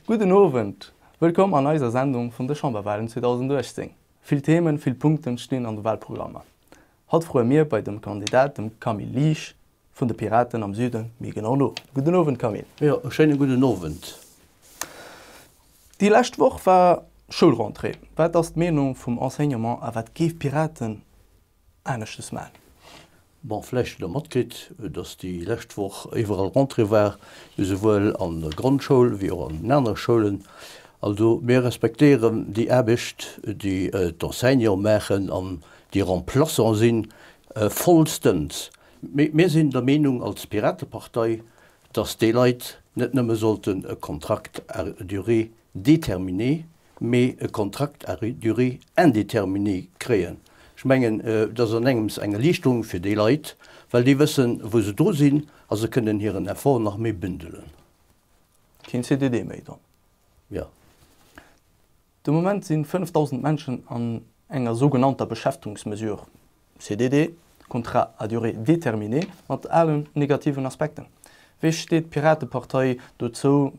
Gudden Owend! Wëllkomm an eiser Sendung vun de Chamberwalen 2018. Vill Themen, vill Punkten stinn an de Walprogrammer. Haut froe mir bei dem Kandidat, dem Camille Liesch, Vun de Piraten am Süden, méi genau no. Gudden Owend Camille. Jo, e schéine gudden Owend. Déi lescht Woch war Schoulrentrée. Wat ass d'Meenung vum Enseignement a wat géif d'Piraten aneschtes man? Bon, vläicht hutt Der matkritt, datt déi lescht Woch iwwerall Rentrée war, esouwuel an der Grondschoul wéi och an den anere Schoulen. Also mir respektéieren déi Aarbecht, déi d'Enseignanten maachen an déi Remplaçanten sinn, vollstens. Mee mir sinn der Meenung als Piratepartei, dass déi Leit net nëmme sollten e Contract à durée déterminée, mee e Contract à durée indéterminée kréien. Ech mengen, dass ass engems eng Erliichterung fir déi Leit, well déi wëssen, wou se dru sinn a se kënnen hiren Effort nach méi bündelen. Keen CDD méi dann? Jo. De Moment sinn 5.000 Menschen an enger sougenannter Beschäftungsmesure, CDD, Contrat à durée déterminée, mat alen negativen Aspekten. Wéi steet d'Piratepartei dozou,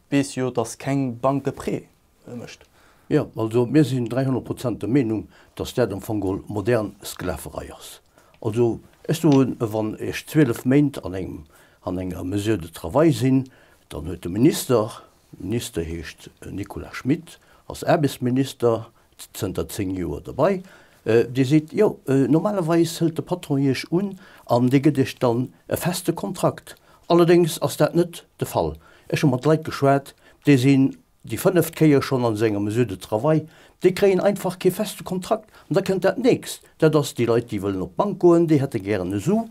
weess jo, dass keng Bank e Prêt mécht? Jo, also mir sinn 300 Prozent der Meenung, dass dat am Fong geholl modern Sklaverei ass. Also ech soen, wann ech 12 Méint an enger Mesure de travail sinn, dann huet de Minister, Minister heescht Nicolas Schmit, ass Aarbechtsminister, zënter 10 Joer dobei. Dir seet, jo, normalerweis hëlt de Patron Iech un an dee gëtt Iech dann e feste Kontrakt. Allerdéngs ass dat net de Fall. Ech hu mat Leit geschwat, déi sinn déi fënneft Kéier schonn an esou enger Mesure de travail, déi kréien einfach kee feste Kontrakt. An da kënnt dat Nächst, dat ass, déi Leit, déi wëllen op d'Bank goen, déi hätte gären e Su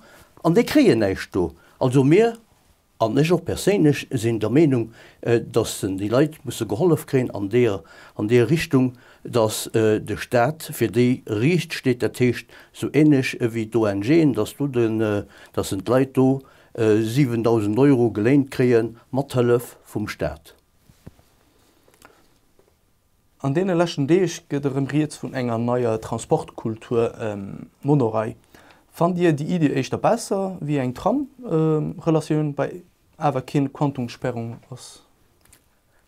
an déi kréien näischt do. Also mir An ech och perséinlech sinn der Meenung, dass déi Leit musse gehollef kréien an deer, an deer Richtung, dass de Stat fir déi riicht steet, dat heescht sou ähnlech wéi d'ONGen, dass do de, dass en d'Leit do 7.000 Euro geléint kréie mat Hëllef vum Stat. An deene leschten Deeg gëtt erëm rieds vun enger neier Transportkultur, Monorail. Fannt Dir déi Iddi éischter besser wéi eng Tram-Relatioun bei awer keen Quantumssperrung ass?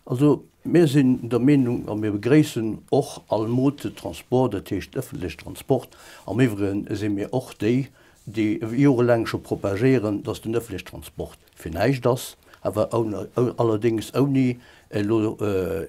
Also mir sinn der Meenung a mir begréissen och all Mode de transport, dat heescht ëffentleche Transport. Am iwwregen si mir och déi, déi jorelaang scho propagéieren, datt den ëffentleche Transport Fir näischt ass awer allerdéngs ouni elo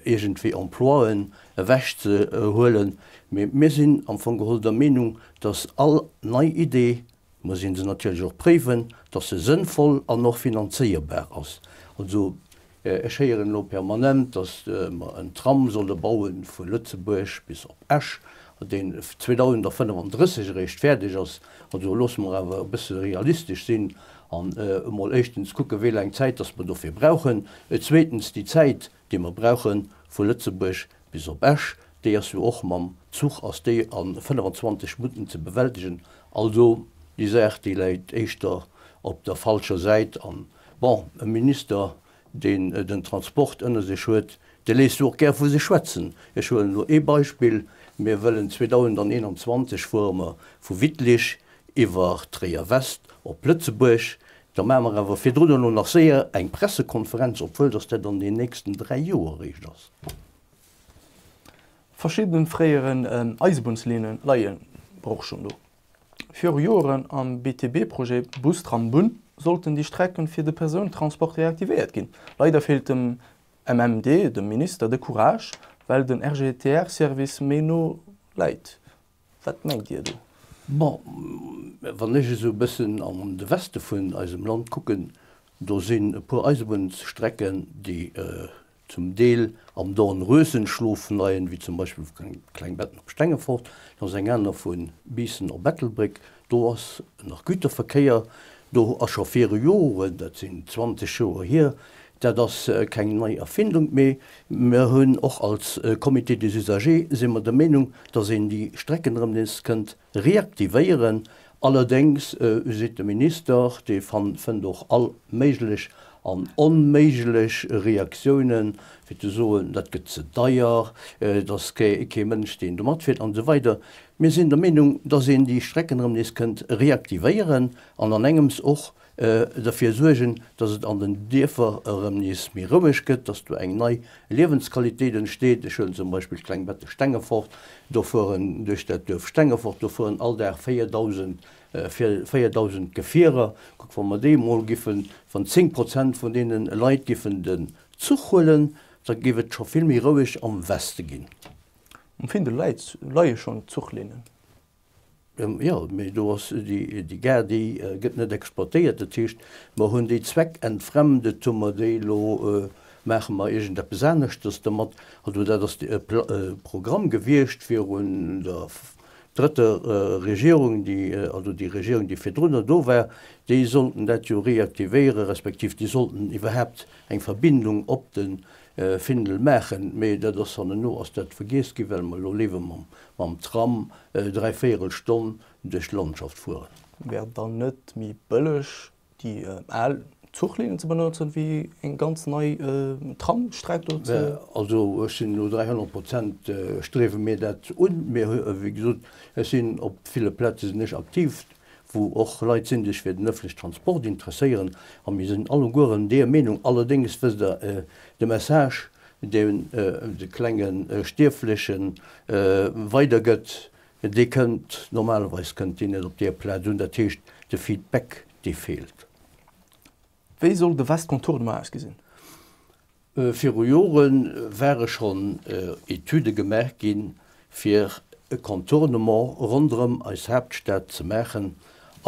iergendwéi Emploien ewech ze huelen, mee mir sinn am Fong geholl der Meenung, dass all nei Idee, muss ee se natierlech och préiwen, dass se sënnvoll an och finanzéierbar ass. Also Ech héieren elo permanent, datt mer en Tram solle baue vu Lëtzebuerg bis op Esch, deen 2035 eréischt fäerdeg ass. Also loosse mer awer e bësse realistesch sinn an emol éischtens kucke wéi laang Zäit datt mer dofir brauchen. Zweetens, déi Zäit, déi mer brauche vu Lëtzebuerg bis op Esch, déi ass jo och mam Zuch ass déi a 25 Minutten ze bewältegen. Also, déi Saach, déi läit éischter op der falscher Säit an Bon, e Minister, deen den Transport ënner sech huet, dee léisst och gär vu sech schwätzen. Ech huelen elo ee Beispill, Mir wëllen 2021 fuere mer vu Wittlich iwwer Tréier-West op Lëtzebuerg. Da maache mer awer virdrun elo nach séier eng Pressekonferenz, obwuel dass dat an den nächsten dräi Joer eréischt ass. Verschidden fréieren Eisebunnslinnen leien och schonn do. Viru Joeren am BTB-Projet Bus-Tram-Bunn sollten déi Strecken fir de Persounentransport reaktivéiert ginn. Leider feelt dem MMD, dem Minister, de Courage, well den RGTR-Service méi no läit. Wat mengt Dir do? Bon, wann ech esou e bëssen an de Weste vun eisem Land kucken, do sinn e puer Eisebunnsstrecken, déi zum Deel am Dornröschenschlof vun Ayen, wéi zum Beispill vu Klengbetten op Stengefort, dann ass eng aner vu Biissen op Ettelbréck, do ass nach Güterverkéier, do ass scho viru Joren, dat sinn 20 Joer hier, dat ass keng nei Erfindung, mee mer hunn och als Comité des usagers, si mer der Meenung, datt een déi Strecken erëm nees kënnt Reaktivéieren allerdéngs, seet de Minister. Dee fënnt och all méiglech an onméiglech Reaktioune fir ze soen, dat gëtt ze deier, et ass kee Mënsch, deen do matfiert an esou weider. Mir sinn der Meenung, datt een déi Strecken erëm nees kënnt reaktivéieren an an engems och derfir suergen, dass et an den Dierfer erëm nees méi roueg gëtt, dass do eng nei Liewensqualitéit entsteet. Ech huelen zum Beispill d'kleng Betteg Stengefort, do fueren duerch dat Duerf Stengefort, do fueren all Dag 4.000, 4.000 Gefierer. Kuck, wa mer déi emol giffen, wann 10 Prozent vun deene Leit giffen den Zuch huelen, da géif et scho vill méi roueg am Weste ginn. Um Findel leie schonn d'Zuchlinnen. Jo, mee do ass, déi Gare déi gëtt net exploitéiert. Dat heescht, mer hunn déi zweckentfremdet, hu mer déi elo, maache mer iergendeppes aneschtes domat. Also dat ass e Programm gewiescht virun der drëtter Regierung, déi, also déi Regierung déi virdrunner do war, déi sollten dat jo reaktivéiere respektiv déi sollten iwwerhaapt eng Verbindung op de Findel maachen, mee dat ass dann elo ass dat vergiess ginn, well mer elo léiwer mam mam Tram dräi Véierel Stonn duerch d'Landschaft fueren. Wär et dann net méi bëlleg déi al Zuchlinnen ze benotzen, wéi eng ganz nei Tramstreck do ze. Also ech sinn elo 300 Prozent striewe mir dat un. Mir, wéi gesot, ech sinn op ville Plaze sinn ech aktiv. wou och Leit sinn, déi sech fir den ëffentlechen Transport interesséieren, a mir sinn allegueren deër Meenung. Allerdéngs, wësst Der, de Message, deen de klenge Stierfleche weidergëtt, dee kënnt, normalerweis kënnt deen net op deër Plaz un. Dat heescht, de Feedback, dee feelt. Wéi soll de Vaste Contournement ausgesinn? Viru Jore ware schonn Etüde gemaach ginn, fir e Contournement ronderëm eis Haaptstad ze maachen.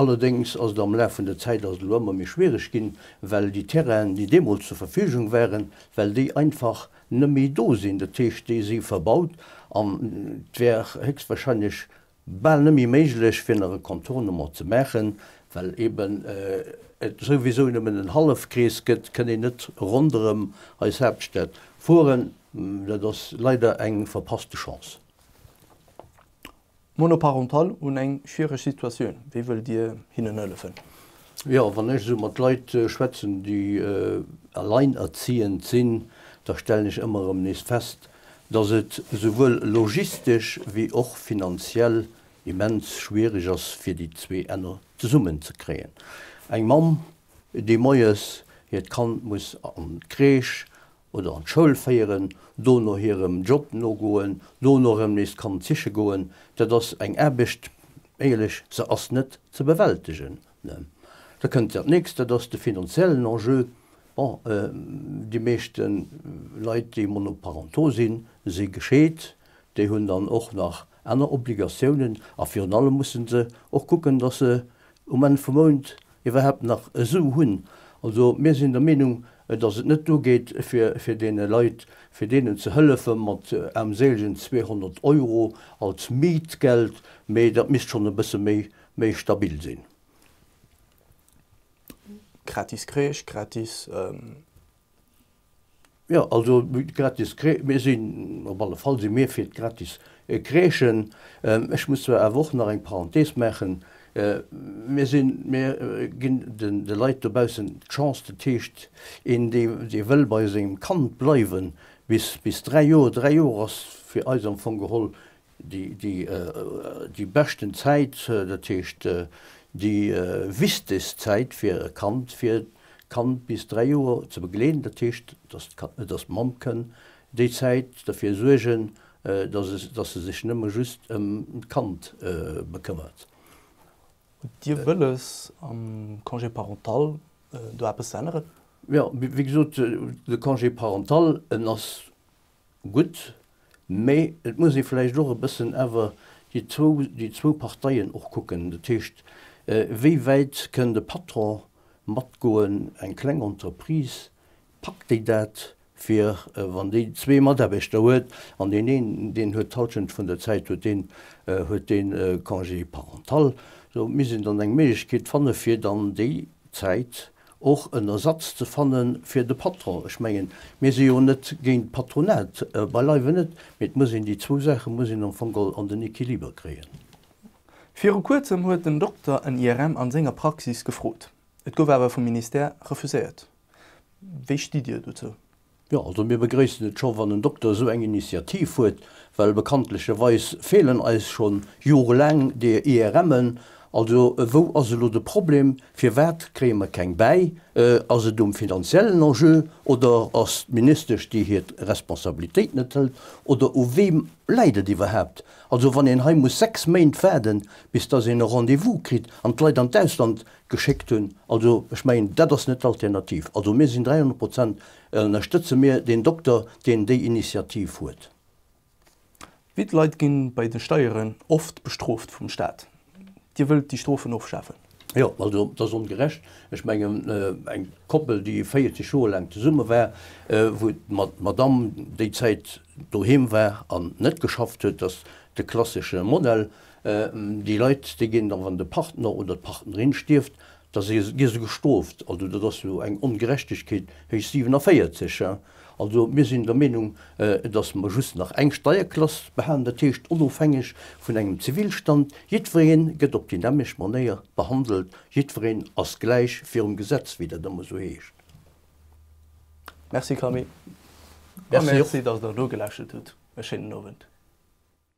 Allerdéngs ass et am Laf vun der Zäit ass et elo ëmmer méi schwiereg ginn, well déi Terrainen, déi deemools zur Verfügung waren, well déi einfach net méi do sinn. Dat heescht, déi si verbaut an et wär héchstwahrscheinlech bal nëmme méiglech fir nach e Contournement ze maachen, well eben et souwisou nëmmen en Hallefkrees gëtt, kënn een net ronderëm eis Haaptstad fueren. Dat ass leider eng verpasste Chance. Monoparental hunn eng schwiereg Situatioun, wéi wëllt Dir hinnen hëllefen? Jo, wann ech esou mat Leit schwätzen, déi alleinerziehend sinn, da stellen ech ëmmer erëm nees fest, dass et esouwuel logistesch wéi och finanziell immens schwiereg ass, fir déi zwee Enner zesummen ze kréien. Eng Mamm, déi moies hiert Kand muss an d'Crèche oder an d'Schoul féieren, dono hirem Job nogoen, dono erëm nees d'Kand siche goen, dat ass eng Aarbecht, éierlech, se ass net ze bewältegen. Da kënnt dat Nächst, dat ass de finanziellen Enjeu. Bon, déi meeschte Leit, déi monoparental sinn, si gescheet. Déi hunn dann och nach aner Obligatiounen a virun allem musse se och kucken, dass se um Enn vum Mount iwwerhaapt nach e Sou hunn. Also mir sinn der Meenung, dass et net duergeet, fir deene Leit, fir deenen ze hëllefe mat aarmséilegen 200 Euro als Mietgeld, mee dat misst schonn e bësse méi Méi stabil sinn. Gratis Kreesch, gratis, euh. Jo, also gratis Kreesch, mir sinn, op alle Fall si mir fir d'gratis Kreeschen. Ech muss zwar awer och nach eng Parenthese maachen, mir sinn, mir ginn de Leit dobaussen d'Chance, dat heescht, een dee wëll bei sengem Kand bleiwen bis dräi Joer, dräi Joer ass fir eis am Fong geholl Déi beschten Zäit, dat heescht déi wichtegst Zäit fir e Kand, fir d'Kand bis dräi Joer ze begleeden, dat heescht, datt d'Mamm kënn déi Zäit derfir suergen, datt se sech nëmme just ëm d'Kand bekëmmert. Hutt Dir wëlles am Congé parental do eppes ze änneren? Jo, wéi gesot, de Congé parental, en ass gutt, mä et muss ee vläicht och e bëssen awer déi zwou, déi zwou Parteien och kucken. Dat heescht, wéi wäit kënn de Patron matgoen, eng kleng Entreprise, packt déi dat, fir wann déi zwee Mataarbechter huet an deen een, deen huet d'Halschent vun der Zäit huet deen, huet dee Congé parental, esou misst een dann eng Méiglechkeet fanne fir dann déi Zäit och en Ersatz ze fanne fir de Patron. Ech mengen, mir si jo net géint d'Patronat, beileiwe net, mee et muss een déi zwou Saache muss een am Fong geholl an den Equiliber kréien. Viru Kuerzem huet en Dokter en IRM an senger Praxis gefrot. Et gouf awer vum Ministère refuséiert. Wéi stitt Dir dozou? Jo, also mir begréissen et scho wann en Dokter esou eng Initiativ huet, well bekanntlecherweis feelen eis scho jorelaang déi IRMen. Also wou ass elo de Problem? Firwat kréie mer keng bäi? Ass et um finanziellen Enjeu oder ass d'Ministesch déi hir Responsabilitéit net hëlt oder u weem läit et iwwerhaapt? Also wann een hei muss sechs Méint waarden, bis datt een e Rendez-vous kritt an d'Leit an d'Ausland geschéckt hunn. Also, ech mengen, dat ass net d'Alternativ. Also, mir sinn 300 Prozent, ënnerstëtze mir deen Dokter, deen déi Initiativ huet. Wéi d'Leit gi bei de Steieren oft bestrooft vum Staat. Dir wëllt déi Strofen ofschafen? Jo, also, dat ass ongerecht. Ech mengen, eng Koppel, déi 40 Joer laang zesumme war, wou d'Madamm déi Zäit doheem war an net geschafft huet, dat ass de klassesche Modell, Déi Leit, déi ginn da, wann de Partner oder d'Partnerin stierft, da gi se gestrooft. Also dat ass jo eng Ongerechtegkeet héich 47. Also mir sinn der Meenung, datt mer just nach eng Steierklass behalen, dat heescht onofhängeg vun engem Zivilstand. Jiddweree gëtt op déi nämmlecht Manéier behandelt, jiddweree ass gläich virum Gesetz, wéi dat ëmmer esou heescht. Merci Camille a merci, datt Der nogeläschelt hutt. E schéinen Owend.